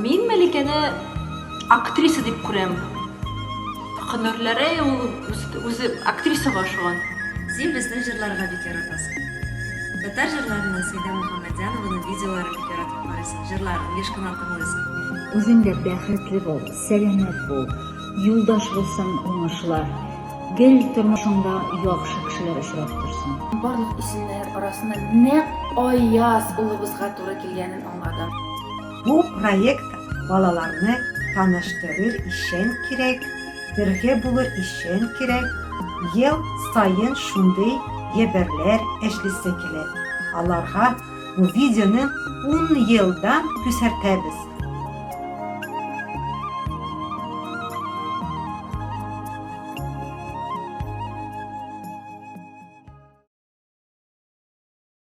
Мин Мәликәне актриса дип күрәм. Һөнәрләре ул үзе актрисага ошаган. Син безне җырларга бик яратасың. Татар җырларыннан Сәйдә Мөхәммәтҗанованың видеоларын бик яратып карыйсың, җырларын еш кына тыңлыйсың. Үзең дә бәхетле бул, сәламәт бул, юлдаш булсын уңышлар, гел тормышыңда яхшы кешеләр очрап торсын. Барлык исемнәр арасында нәкъ Аяз улыбызга туры килгәнен аңладым. Бу проект балаларны таныштырыр ишен кирәк, бергә булыр ишен кирәк, ел саен шундый ебәрләр эшлисе килә. Аларга бу видеоны ун елдан күсәртәбез.